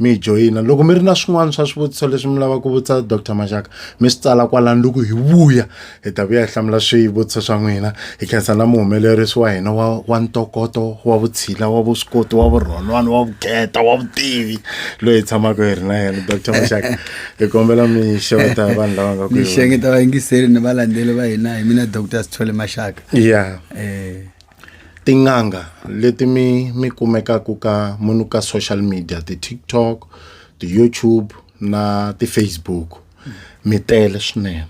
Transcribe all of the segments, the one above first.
mi joyina loko mi ri na swin'wana swa swivutiso leswi mi lavaka ku vutisa dr maxaka mi swi tsala kwalani loko hi vuya hi ta vuya hi hlamula swivutiso swa n'wina hi khensa na muhumelerisi wa hina wa wa ntokoto wa vutshila wa vuswikoti wa vurhonwana wa vukheta wa vutivi loyi hi tshamaka hi ri na yena dr maxaka hi kombela mi xeweta vanhu lava nga kuxengeta vayingiseri ni valandzeli va hina hi mina dr sithole maxaka ya yeah. um eh. Tin'anga leti mi mi kumekaka ka munhu ka social media ti-TikTok ti-YouTube na ti-Facebook mi tele swinene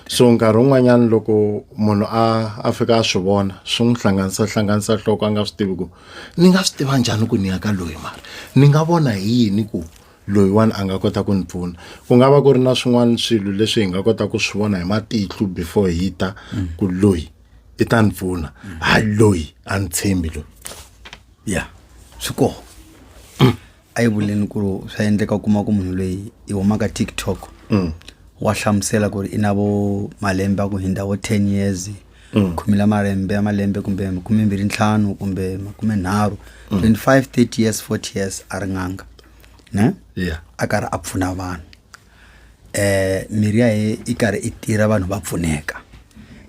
so nkarhi wun'wanyana loko munhu a a fika a swi vona swi n'wi hlanganisa hlanganisa nhloko a nga swi tivi ku ni nga swi tiva njhani ku ni ya ka loyi mara ni nga vona hi yini ku loyiwani a nga kota ku ni pfuna ku nga va ku ri na swin'wana swilo leswi hi nga kota ku swi vona hi matihlo before hi ta ku loyi. i ta ni pfuna hayi loyi a ni tshembi loyi ya swi koho a yi vuleni ku ri swa endleka u kuma ku munhu loyi i humaka tiktok mm. wa hlamusela ku ri i na vo malembe a ku hindza vo ten years mm. khume la malembe ya malembe kumbe makume mbirhi ntlhanu kumbe makume nharhu mm. twenty five thirty years forty years a ri n'anga ne a karhi a pfuna vanhu mirhi ya he i karhi i tirha vanhu va pfuneka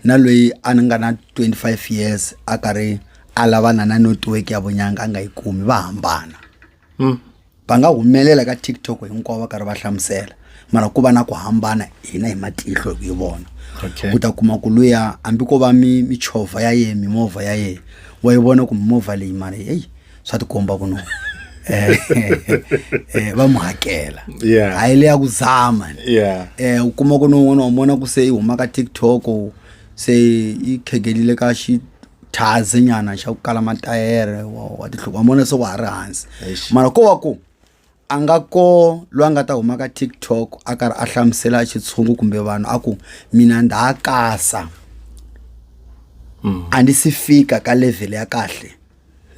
na lweyi a ni nga na twenty five years a karhi a lavana na network ya vunyanga a nga yi kumi va hambana va nga humelela ka TikTok hinkwavo va karhi va hlamusela mara ku va na ku hambana hina hi matihlo hi vona Okay. u ta kuma ku luya hambi ko va mi michovha ya yehe mimovha ya yehe wa yi vona ku mimovha leyi mara heyi swa tikomba ku no eh, eh, va mu hakela Yeah. a yi le ya ku zama ni. Yeah. eh u kuma ku no un'wana wa mona ku se i huma ka tiktok se i khegelile ka xithaze nyana xa ku kala matayere wa wa tihloko wa mona se wa ha ri hansi Eish. mara ko wa ku a nga ko loyi a nga ta huma ka tiktok a karhi a hlamusela xitshungu kumbe vanhu a ku mina ndha kasa a ndzi si fika ka level ya kahle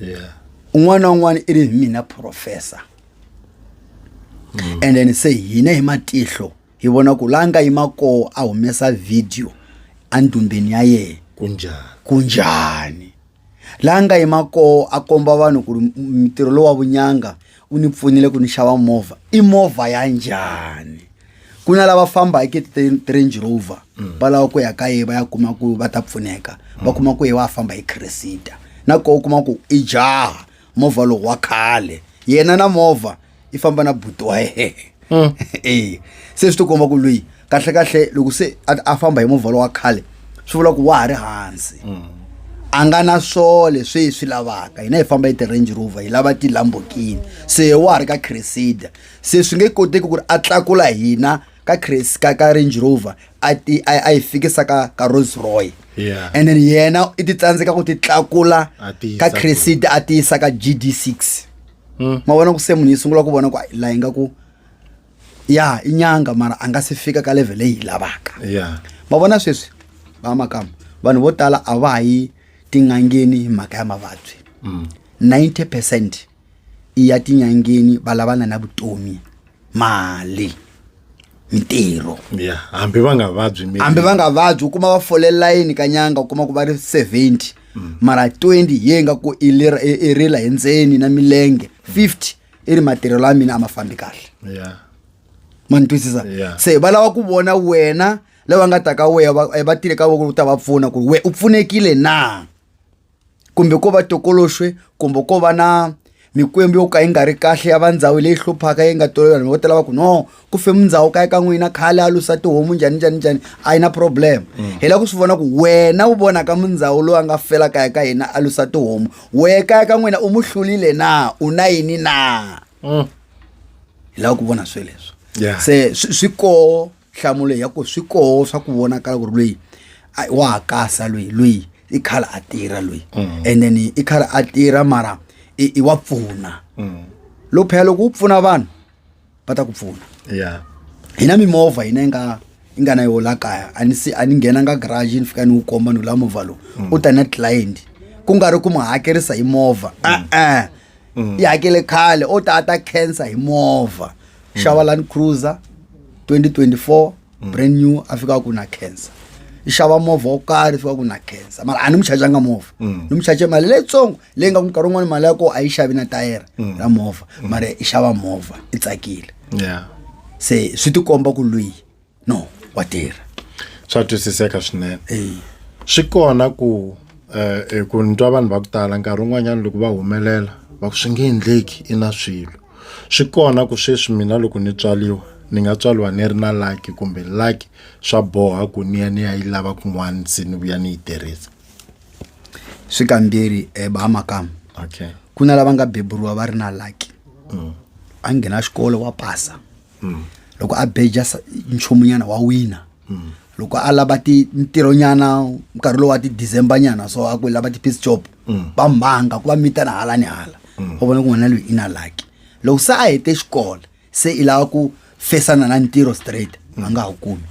yeah un'wana na un'wana i ri hi mina professor and then se hina hi matihlo hi vona ku la nga yima koho a humesa video endumbeni ya yena kunjani kunjhani laha nga yima koho a komba vanhu ku ri ntirho lowu wa vunyanga u ni pfunile ku ni xava movha i movha ya njhani ku na lava famba hi ti-range rover mm. va lava ku ya ka ye va ya kuma ku va ta pfuneka va kuma ku ye wa famba hi cresita na koho u kuma ku i jaha movha lowu wa khale yena na movha i famba na buti wa yena mm. e se swi ti komba ku loyi kahlekahle loko se a famba hi movha lowa khale swi vula ku wa ha ri hansi mm. a nga na swo leswi hi swi lavaka hina hi famba hi ti-range rover hi lava tilambokini se wa ha ri ka cresida se swi nge koteki ku ri a tlakula hina ka cres ka ka range rover a ti a yi fikisa ka ka rolls roy yeah. and then yena i ti tsandzeka ku ti tlakula ka cresida a ti yisa ka gd six Mm. ma vona ku se munhu yi sungula ku vona ku hayi laha ingaku ya i nyanga mara a nga se fika ka level leyi yi lavaka Yeah. ma vona sweswi va makama vanhu vo tala a va ha yi tin'angeni hi mhaka ya mavabyi 90 percent i ya tin'angeni va lavana na vutomi mali mitirho ya hambi va nga vabyi miri. hambi va nga vabyi u kuma va fole layini ka nyanga u kuma ku va ri 70 mara 20 ye nga ku i lera- i- i rila hi ndzeni na milenge 50 i ri matirhelo a mina a ma fambi kahle ya ma ni twisisa Yeah. se va lava ku vona wena lava nga ta ka weya va eh, va tile ka voko u ta va pfuna ku ri we u pfunekile na kumbe ko va tokoloxwe kumbe ko va na mikwembu yo ka yi nga ri kahle ya va ndhawu leyi hluphaka yi nga tolovela vanhu vo tala va ku no ku femi ndhawu kaya ka n'wina khale a lusa tihomu njhani njhani njhani a yi na problem mm. hi lava ku swi vona ku wena u vonaka mundzhawu loyi a nga fela kaya ka hina a lusa tihomu wehe kaya ka n'wina u mu hlulile na u na yini na mm. hi lava ku vona sweleswo se swi koho nhlamulo ya ku swi koho swa ku vonakala ku ri loyi a- wa ha kasa loyi loyi i khale a tirha loyi and then i khale a tirha mara i i wa pfuna loko phela loko u pfuna vanhu va ta ku pfuna ya hi na mimovha hina yi nga yi nga na yo la kaya a ni si a ni nghenanga garage ni fika ni wu komba ni la movha lowu u ta na client ku nga ri ku mu hakerisa hi movha e-e yi hakele khale o ta a ta khensa hi movha xava mm. land cruiser 2024 mm. brand new a fika ku na cancer i xava movha wo karhi fika ku na cancer mara a ni mu chajanga movha mm. ni mu chaje mali leyitsongo leyi nga ku nkarhi wun'wana mali ya koo a yi xavi na tayere mm. ra movha mm. mara i xava movha i tsakile se swi tikomba ku lweyi no wa tirha swa twisiseka swinene swi kona ku eh, eh, ku ni twa vanhu va ku tala nkarhi wun'wanyana loko va humelela va ku swi nge endleki i na swilo swi kona ku sweswi mina loko ni tswaliwa ni nga tswaliwa ni ri na laki kumbe laki swa boha ku ni ya ni ya yi lava kun'wana se ni vuya ni yi tirhisa swi kambirhi um bahamakama okay ku na lava nga beburiwa va ri na laki a nghena xikolo wa pasa loko a beja sa- nchumunyana wa wina loko a lava ti ntirhonyana nkarhi lowu wa ti-december nyana so a ku lava ti-piece job va mhanga ku va mitana hala ni hala va vona ku n'wana loyi i na laki loko se a hete xikolo se i lava ku fesana na ntirho straight a nga ha kumi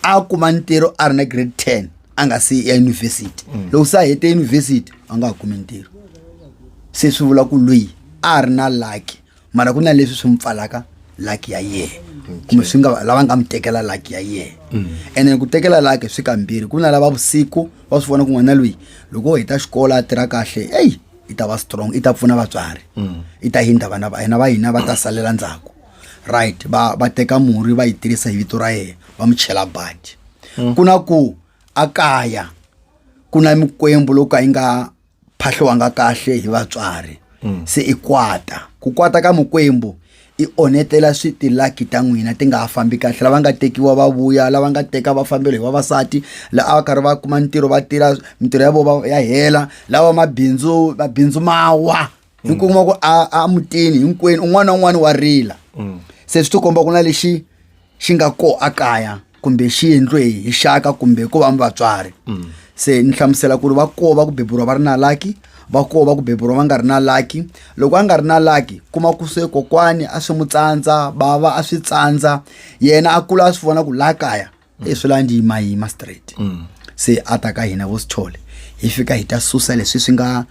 a kuma ntirho a ri na grade ten a nga se ya yunivhesiti mm. loko se a hete yunivhesiti a nga ha kumi ntirho se swi vula ku loyi a ri na laki mara ku na leswi swi n'wi pfalaka laki ya yena kumbe swi nga lava nga mi tekela laki ya yena mm. ene ku tekela laki swi kambirhi ku na lava vusiku va swi vona ku n'wana loyi loko u heta xikolo a tirha kahle eyi i ta va strong i ta pfuna vatswari mm. i ta hindza vana va yena va hina va ta salela ndzhaku right va va teka murhi va yi tirhisa hi vito ra yena va mu chela badi hmm. ku na ku a kaya ku na mikwembu loko ka yi nga phahliwanga kahle hi vatswari hmm. se i kwata ku kwata ka mikwembu i onhetela switilaki ta n'wina ti nga ha fambi kahle lava nga tekiwa va vuya lava nga teka va fambelo hi vavasati la a va karhi va kuma ntirho va tirha mintirho ya vona ya hela lava mabindzu mabindzu ma wa mi kuma ku a a mutini hinkwenu un'wana na un'wana wa rila se swi tikomba ku na lexi xi nga ko a kaya kumbe xi endliwe hi hi xaka kumbe ko va mi vatswari se ni hlamusela ku ri va ko va ku beburiwa va ri na laki va ko va ku beburiwa va nga ri na laki loko a nga ri na laki kuma ku se kokwani a swi mu tsandza bava a swi tsandza yena a kula a swi vona ku la kaya i swi la ndzi ma yima straight mm. se a ta ka hina vo sithole hi fika hi ta susa leswi swi nga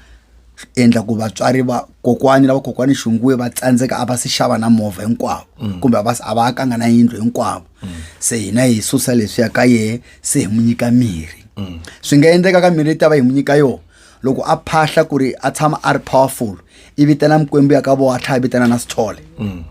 endla ku vatswari va kokwani lava kokwani xunguwe va tsandzeka a va si xava na movha hinkwavo mm. kumbe a va a va akanga na yindlu hinkwavo mm. se hina hi susa leswi ya ka yehe se hi n'wi nyika mirhi mm. swi nga endleka ka mirhi yi ta va hi n'wi nyika yona loko a phahla ku ri a tshama a ri powerful i vitana mikwembu ya ka vowa a tlhaya vitana na sithole mm.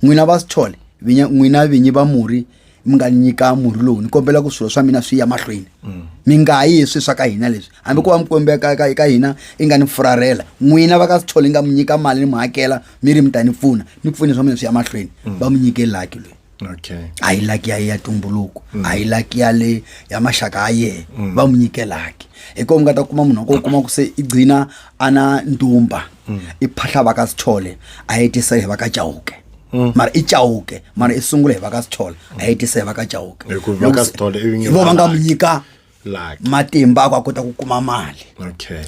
n'wina va sithole n'wina vinyi va murhi mi nga nyika murhi lowu ni kombela ku swilo swa mina swi ya mahlweni mm. mi nga yi hi swi swa ka hina leswi hambi ku va mi kombela ka, ka, ka hina i nga ni furarela n'wina va ka swi thole nga mi nyika mali ni mi hakela mi ri mi ta ni pfuna ni pfune swa mina swi ya mahlweni mm. va mi nyike laki loyi okay. a yi laki ya ya tumbuluko mm. a yi laki ya le ya maxaka ya yehe mm. va mi nyike laki hi kona mi nga ta kuma munhu wa ko kuma ku se i gcina a na ndumba mm. i phahla va ka sithole a yi tisa hi va ka chauke mm. mara i chauke mara i sungule hi va ka sithole a yi tisa hi va ka chauke vo va nga mu nyika matimba ako a kota ku kuma mali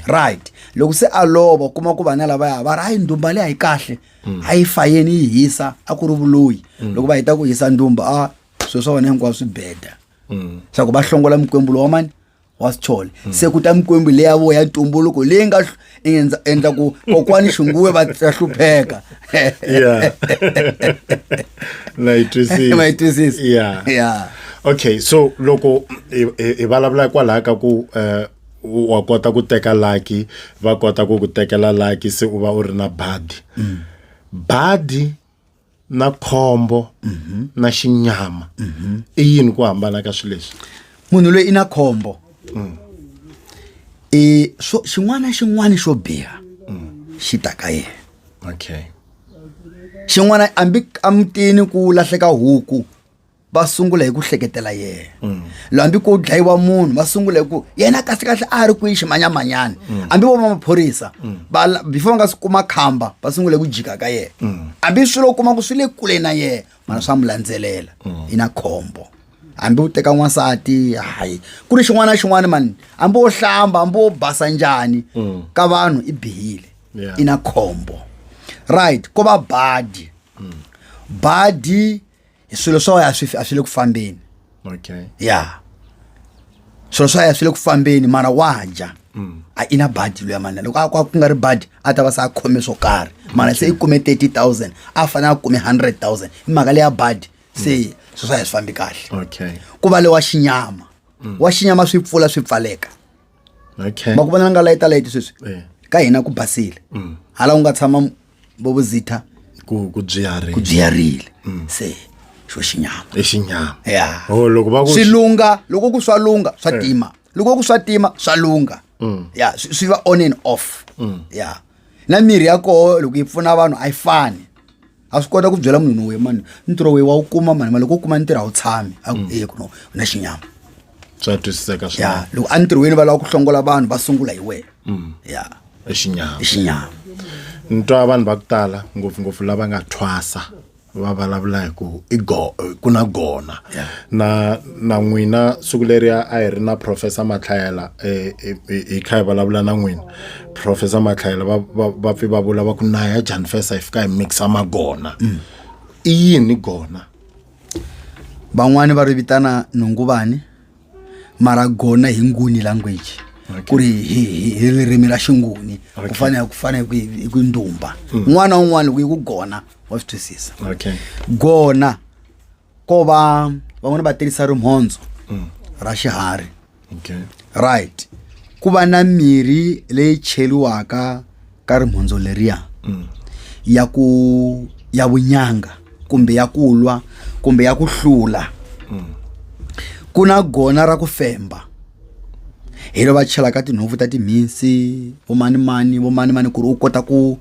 right loko se a lova kuma ku vana lavaya va ri hayi ndumba leyi a yi kahle mm. a yi fayeni yi hisa a ku ri vuloyi loko va heta ku hisa ndumba a swilo swa vona hinkwavo swi beda swa ku va hlongola mikwembu lowa mani wa swi chole hmm. se ku ta mikwembu leyi ya voya ntumbuluko leyi nga endla ku kokwani xunguwe va ta hlupheka ya na yi twisisi ma yi twisisi ya ya okay so loko hi vulavula kwalaho ka ku um wa kota ku teka laki va kota ku ku tekela laki se u va u ri na badi mm. badi na khombo mhm. na xinyama mhm. i yini ku hambana ka swilo leswi munhu loyi i na khombo mm. i swo xin'wana na xin'wana xo biha mm. xi ta ka yena okay xin'wana ambi amutini ku lahleka huku va sungula hi ku hleketela yena mm. hambi ku dlayiwa munhu va sungula hi ku yena kahlekahle a ri kwihi ximanyamanyana mm. hambi vo vamaphorisa mm. before va nga swi kuma khamba va sungula hi ku jika ka yena hambi swilo u kuma ku swi le kule na yena mana swa mu landzelela yi na khombo hambi u teka n'wansati hayi ku ri xin'wana na xin'wana mani hambi wo hlamba hambi wo basa njhani ka vanhu i bihile i na khombo right ko va badi badi swilo swa wena a swi a swi le ku fambeni okay ya swilo swa yena swi le ku fambeni mara wa dya a i na badi luya mani loko a kwa ku nga ri badi a ta va se a khome swo karhi mara se i kume 30 000 a fanele a kume 100 000 i mhaka leya badi se swilo swa yena swi fambi kahle okay ku va le wa xinyama wa xinyama swi pfula swi pfaleka okay ma ku vona nga layita layiti sweswi eh. ka hina ku basile mm. hala u nga tshama vovuzitha ku ku byiyarile ku byiyarile mm. se xo xinyama i xinyama ya oh, loko va ku swi lunga loko ku swa lunga swa eh. tima loko ku swa tima swa lunga mm. ya swi va on and off ya na mirhi ya koho loko yi pfuna vanhu a yi fani a swi kota ku byela munhu we mani ntirho we wa wu kuma mani ma loko u kuma ntirho a wu tshami a ku eye kuno u na xinyama swa twisiseka swa ya loko a ntirhweni va lava ku hlongola vanhu va sungula hi wena mm. ya i xinyama i xinyama ni twa vanhu va ku tala ngopfungopfu lava nga thwasa va vulavula hi ku i go ku na gona na na n'wina siku leriya a hi ri na professor matlhayela eh, eh, eh, hi kha hi vulavula na n'wina professor matlhayela va va va pfi va vula va ku naya jan fesa hi fika hi mixa magona i yini gona van'wani va ri vitana nhunguvani mara gona hi nguni language ku ri hi- hi hi ririmi ra xinguni ku fana ku fana hi ku- hi ku ndumba n'wana un'wana loko yi ku gona wa swi twisisa okay gona ko va van'wana va tirhisa rimhondzo ra xiharhi okay right ku va na mirhi leyi cheliwaka ka rimhondzo leriya ya ku ya vunyanga kumbe ya ku lwa kumbe ya ku hlula ku na gona ra ku femba hi lo va chelaka tinhompfu ta timhinsi vomanimani vomanimani ku ri u kota ku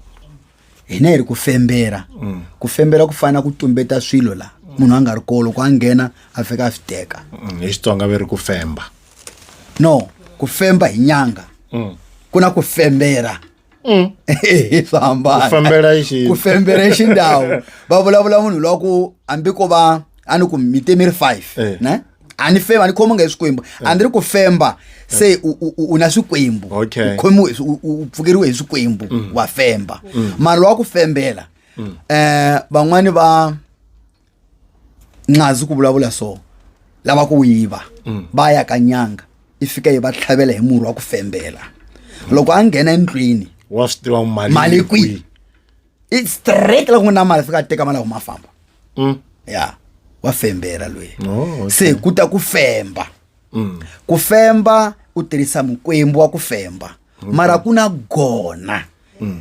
hina hi ri ku fembela mm. ku fembela ku fana ku tumbeta swilo la munhu a nga ri ko loko a nghena a fika a swi teka mm, hi xitsonga ve ri ku femba no ku femba hi nyanga mm. ku na ku fembela swa hambanakufembelaku fembela i xindhawu va vulavula munhu lwa ku hambi ko va a ni ku mi te mi ri five eh. ne a ni fema a ni khomangi hi swikwembu a ni ri ku femba se u- u- u- u na swikwembu Okay. Mm. u khomiwe hi swi- u- u- u pfukeriwe hi swikwembu wa femba mara wa ku fembela um van'wani va ncazi ku vulavula so lava ku yiva Mm. va ya ka nyanga i fika yi va tlhavela hi murhi wa ku fembela loko a nghena endlwini wa swi tiva mali mali yi kwihi i straight la ku n'wi na mali fika a teka mali a huma a famba Mm. ya wa fembela loyi Oh, okay. se ku ta ku femba Mm. ku femba u tirhisa mukwembu wa ku femba mara ku na gona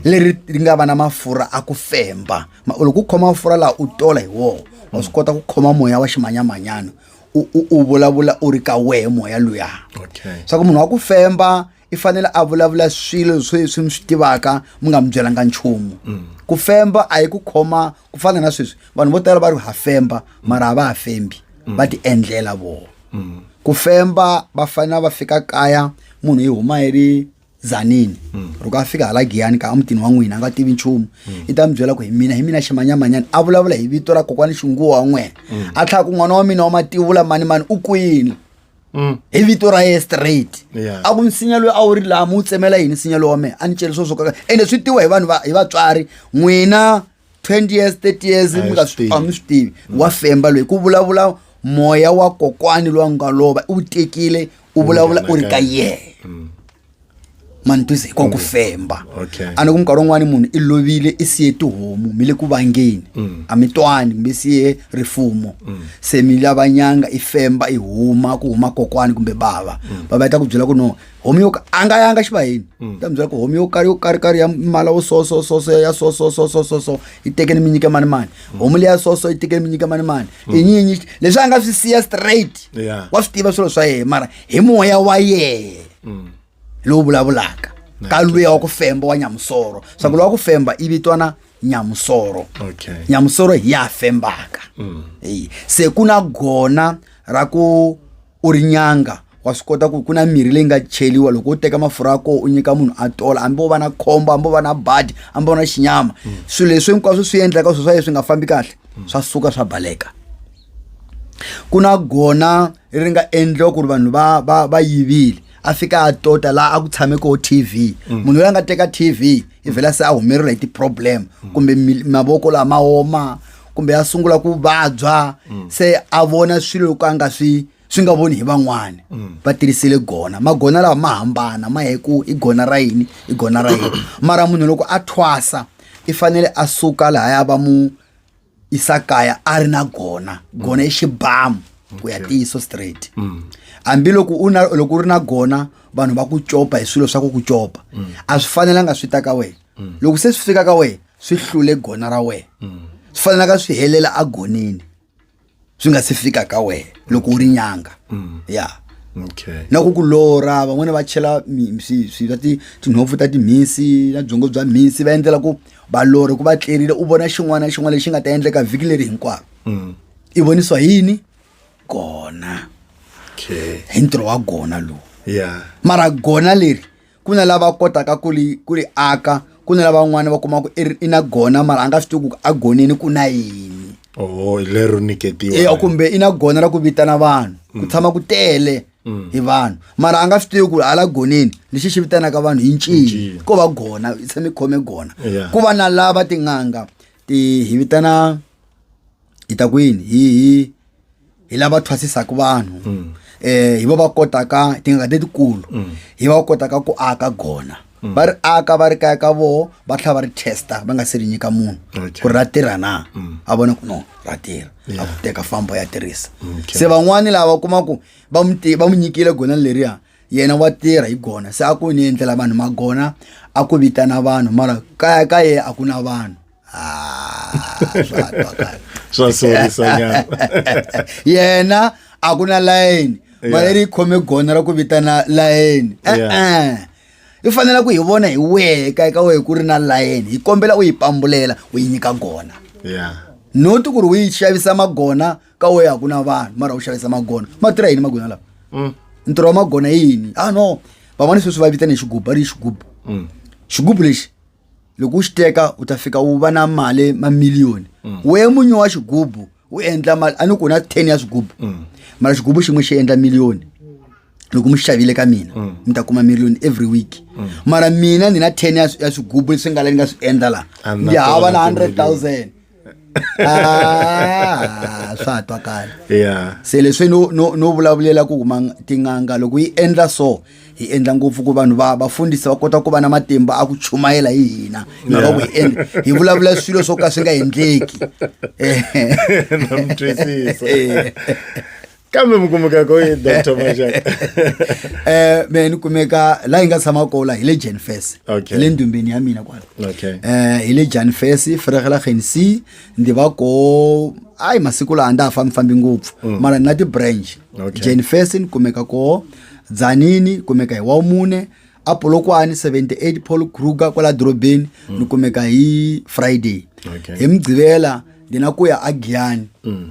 leri ri nga va na mafurha a ku femba Ma- loko u khoma mafurha laha u tola hi wona wa swi kota ku khoma moya wa ximanyamanyana u u- u vulavula u ri ka wehe moya luya Okay. swa ku munhu wa ku femba i fanele a vulavula swilo swo swi mi swi tivaka mi nga mi byelanga nchumu mm. ku femba a yi ku khoma ku fana na sweswi vanhu vo tala va ri ha femba mara a va ha fembi mm. va ti endlela vona mm. ku femba va fanele va fika kaya munhu yi huma yi ri zanini loko a fika hala giyani ka emutini wa n'wina a nga tivi nchumu i ta mi byela ku hi mina hi mina ximanyamanyani a vulavula hi vito ra kokwani xinguwa wa n'wena a tlhaka ku n'wana wa mina wa mativula mani mani u kwini Mm. hi vito ra ye straight a ku nsinya loyi a wu ri laha mi wu tsemela yini nsinya loyi wa mehe a ni celi swo swo kaka ende swi tiwa hi vanhu hi vatswari n'wina twenty years thirty years mi nga swi a mi swi tivi mm. wa femba loyi ku vulavula moya wa kokwani loyi a nga lova u tekile u vulavula u ri ka yena mm. mantuzi i ku femba okay. a ni ku minkarhi wun'wani munhu i lovile i siye tihomu mi le ku vangeni mm. a mi twani kumbe siye rifumo mm. se mi lava nyanga i femba i huma ku huma kokwani kumbe bava mm. bava yi ta ku byela ku no homu yo a nga yanga xivayeni mm. ta mi byela ku homu yo karhi yo karhi karhi ya mala wo so so so so ya so so so so so so yi tekeni mi nyike mani mani mm. homu leya so so yi tekeni mi nyike mani mani mm. i nyinyi leswi a nga swi siya straight yeah. wa swi tiva swilo swa yena mara hi moya wa yena mm. lowu vulavulaka ka luya wa ku femba wa nyamusoro swa ku lowa ku femba i vitwana nyamusoro nyamusoro hi ya fembaka mm. se ku na gona ra ku u ri nyanga wa swi kota ku ku na mirhi leyi nga cheliwa loko u teka mafurha ya koho u nyika munhu a tola hambi wo va na khombo hambi wo va na badi hambi wo na xinyama mm. swilo leswi hinkwaswo swi endlaka swilo swa yeswi nga fambi kahle mm. swa suka swa baleka ku na gona ri nga endliwa ku ri vanhu va va va yivile a fika a tota laha a ku tshame ko TV mm. munhu loyi a nga teka TV i vhela se a humeriwa hi ti-problem mm. kumbe mavoko lama oma kumbe a sungula ku vabya mm. se a vona swilo loko a nga swi swi nga voni hi van'wana va tirhisile gona magona lawa ma hambana ma hi ku i gona ra yini i gona ra yini mara munhu loko a thwasa i fanele a suka lahaya va mu isakaya a ri na gona gona i xibamu ku ya tiyiso straight mm. hambiloko u na loko u ri na gona vanhu va ku copa hi swilo swa ku ku copa mm. a swi fanelanga swi ta ka wena mm. loko se swi fika ka wena swi hlule gona ra wena swi fanelanga swi helela a gonini swi nga si fika ka wena loko u ri nyanga mm. ya okay. na ku ku lora van'wana va chela swa tinhompfu ta timhisi na byongo bya mhisi va endlela ku va lori ku va tlerile u vona xin'wana na xin'wana lexi nga ta endleka vhiki leri hinkwaro mm. i vonisiwa yini kona hi ntirho wa gona lowu mara gona leri ku na lava kotaka ku li ku li aka ku na lavan'wana va kuma ku i na gona mara a nga swi tivi ku a goneni ku na yini oh lero niketiwa e kumbe i na gona ra ku vitana vanhu ku mm. tshama ku tele mm. hi vanhu mara a nga swi tivi ku hala goneni lexi xi vitanaka vanhu hi ncini ko va gona i tshame khome gona ku va na lava tin'anga ti hi vitana hi ta ku yini hi hi hi lava thwasisaka vanhu um hi va va kotaka tingaka letikulu mm. hi va va kotaka ku aka gona mm. va ri aka va ri kaya ka voho va tlhela va ri testa va nga se ri nyika munhu ku ri ra tirha na mm. a vona ku no ra tirha a ku teka fambo ya tirhisa se van'wani lava kuma ku va n'wi nyikile gona leriya yena wa tirha hi gona se a ku ni endlela vanhu magona a ku vitana vanhu mara kaya ka yena a ku na vanhu ah swa sorisa nyana yena a ku na layeni valeri yi khome gona ra ku vitana layeni e-e i fanele ku hi vona hi wehe ka eka wehe ku ri na layeni hi kombela u yi pambulela u yi nyika gona not ku ri u yi xavisa magona ka wehe a ku na vanhu mara u xavisa magona ma tirha yini magona lawa mm. ntirho wa magona yini a ah, no van'wana sweswi va vitana hi xigubu va ri xigubu mm. xigubu lexi loko u xi teka u ta fika u va na mali mamiliyoni mm. we munyi wa xigubu u endla mali a ni ku na ten ya swigubu mm. mara xigubu xin'we xi endla miliyoni loko mi xavile ka mina mm. mi ta kuma million every week mm. mara mina ni na ten ya swigubu leswi nga la ni nga swi endla la ndi hava na hundred thousand ah swa twakala yeah se leswi no no no vulavulela ku huma tin'anga loko yi endla so hi endla ngopfu ku vanhu va vafundhisi va kota ku va na matimba a ku chumayela hi hina mhaka ku hi endla hi vulavula swilo swo ka swi nga endleki eh. kambe mi kumeka koyi dr majak um me ni kumeka laha hi nga tshama kola hi le jan fes hi le ndumbeni ya mina kwala um hi le jan fes fregela genc ndi va ko ayi masiku laha a nda ha fambifambi ngopfu mm. mara ni na ti-branch jan fes ni kumeka ko dzanini kumeka hi wa mune apolokwani 78 paul kruger kwala dorobeni mm. ni kumeka hi friday hi mugqivela ndzi na ku ya agiyani mm.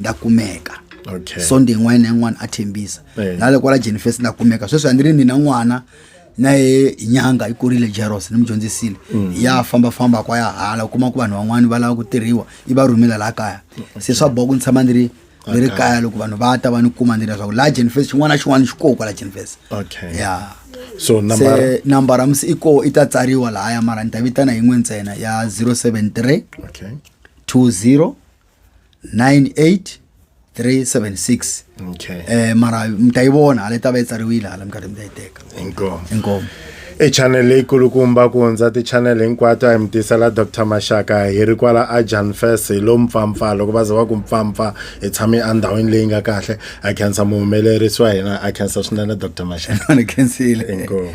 nda kumeka okay. sonde yin'wana na yin'wana a thembisa eh. na le kwala jenifest nda kumeka sweswi a ni ri ni na n'wana na ye nyanga yi kurile jeros ni mi dyondzisile mm. ya fambafamba kwa ya hala u kuma ku vanhu van'wana va lava ku tirhiwa yi va rhumela laha kaya se swa boha ku ni tshama ni ri ni ri kaya loko vanhu va ta va ni kuma ni leswaku laha jenifest xin'wana na xin'wana xi koho kwala jenifest okay. yeah so number number amsi i ko i ta tsariwa lahaya mara ni ta vitana yin'we ntsena ya 073 okay. 20 98376 okay eh mara mtayibona hala tava yi tsariwile hala minkarhi mi ta yi teka inkomo inkomo i channel leyikulukumba ku hundza ti-channel hinkwato a hi mi tisela dr maxaka hi ri kwala a jan fes hi lo mpfampfa loko va ze va ku mpfampfa hi tshame endhawini leyi nga kahle a khensa muhumelerisi wa hina a khensa swinene dr maxaka ni khensile inkomo